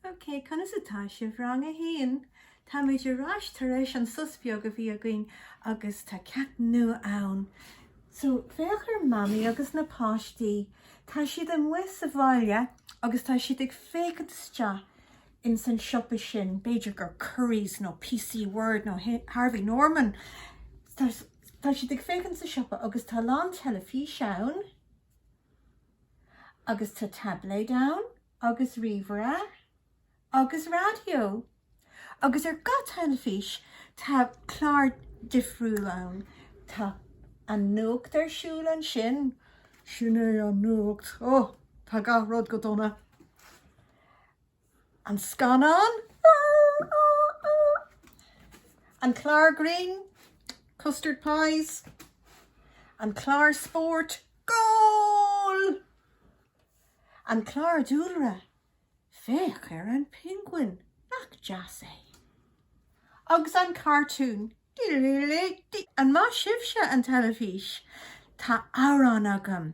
OK, conas atá sibh, rang a haon? Táimid ar ais tar éis an sos beag a bhí againn agus tá ceacht nua ann. So, féach ar Mamaí agus na páistí. Tá siad amuigh sa bhaile agus tá siad ag féachaint isteach ins an siopa sin, b'fhéidir gur Currys nó PC World nó Harvey Norman. Tá siad ag féachaint sa siopa agus tá a lán teilifís ann. Agus tá taibléid ann, agus ríomhaire, agus raidió. Agus ar gach teilifís tá clár difriúil ann. Tá an nuacht ar siúl ansin. Sin é an nuacht. Ó, tá gach rud go dona. An scannán? An clár grinn? Custard pies? An clár spóirt? Goal! An clár dúlra? Féach ar an Penguin, nach deas é? Agus an cartún? An maith sibhse an teilifís? Tá amhrán agam!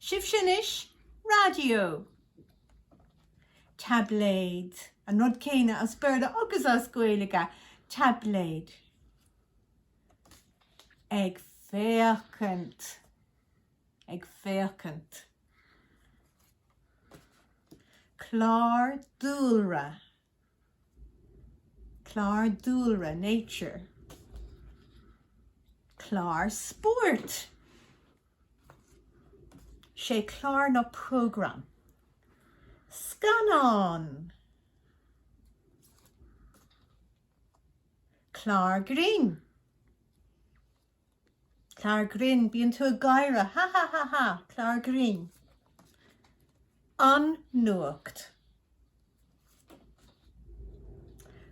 Sibhse anois, raidió! Taibléad. An rud céanna as Béarla agus as Gaeilge, taibléad. Ag féachaint. Ag féachaint. Clár dúlra. Clár dúlra, Nature. Clár spóirt, Sé clár nó program. Scannán. Clár grinn. Clár grinn, bíonn tú ag gáire, ha ha ha ha! Clár grinn. An Nuacht.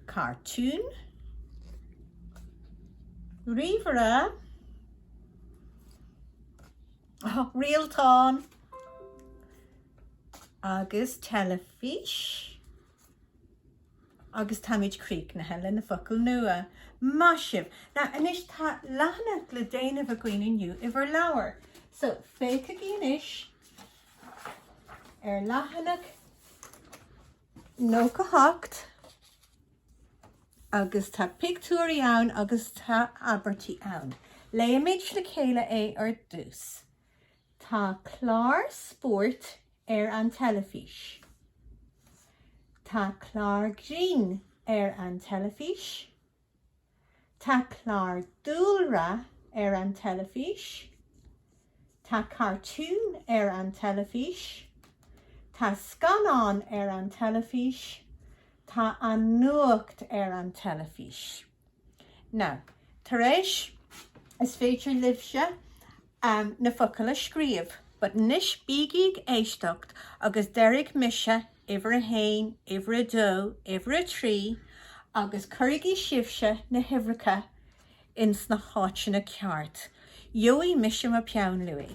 Cartún. Ríomhaire. Rialtán. Agus teilifís. Agus táimid críochnaithe leis na focail nua. Maith sibh! Now anois tá leathanach le déanamh againn inniu i bhur leabhair. So féachaigí anois ar leathanach nócha hocht agus tá pictiúirí ann agus tá abairtí ann. Léimid le chéile é ar dtús. Tá clár spóirt ar an teilifís. Tá clár grinn ar an teilifís. Tá clár dúlra ar an teilifís. Tá cartún ar an teilifís. Tá scannán ar an teilifís. Tá an nuacht ar an teilifís. Now, tar éis, is féidir libhse na focail a scríobh, but anois bígí ag éisteacht agus déarfaidh mise uimhir a haon, uimhir a dó, uimhir a trí agus cuirigí sibhse na huimhreacha ins na háiteanna cearta. Gheobhaidh mise mo pheann luaidhe.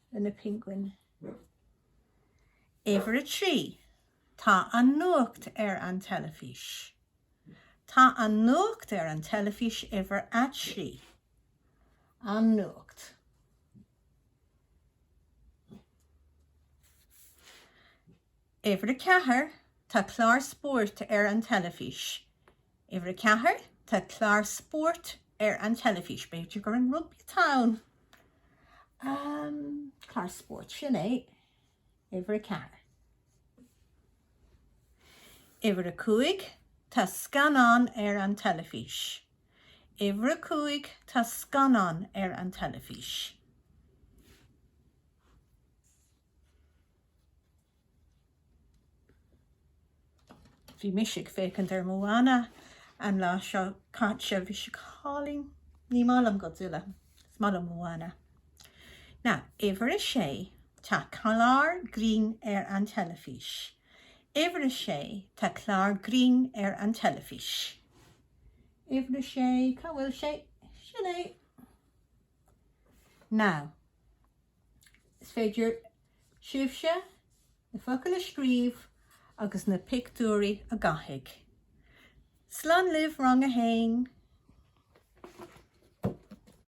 leis na penguin. Uimhir a trí, tá an nuacht ar an teilifís. Tá an nuacht ar an teilifís uimhir a trí. An nuacht. Uimhir a ceathair, tá clár spóirt ar an teilifís. Uimhir a ceathair, tá clár spóirt ar an teilifís. B'fhéidir gur an rugbaí atá ann? Ahm, clár spóirt, sin é. Uimhir a ceathair. Uimhir a cúig, tá scannán ar an teilifís. Uimhir a cúig, tá scannán ar an teilifís. Bhí mise ag féachaint ar Moana an lá seo caite. Bhí sé go hálainn. Ní maith liom Godzilla. Is maith liom Moana. Now, uimhir a sé, tá clár grinn ar an teilifís. Uimhir a sé, tá clár grinn ar an teilifís. Uimhir a sé, cá bhfuil sé? Sin é. Now. Is féidir sibhse na focail a scríobh agus na pictiúirí a dhathú. Slán libh rang a haon!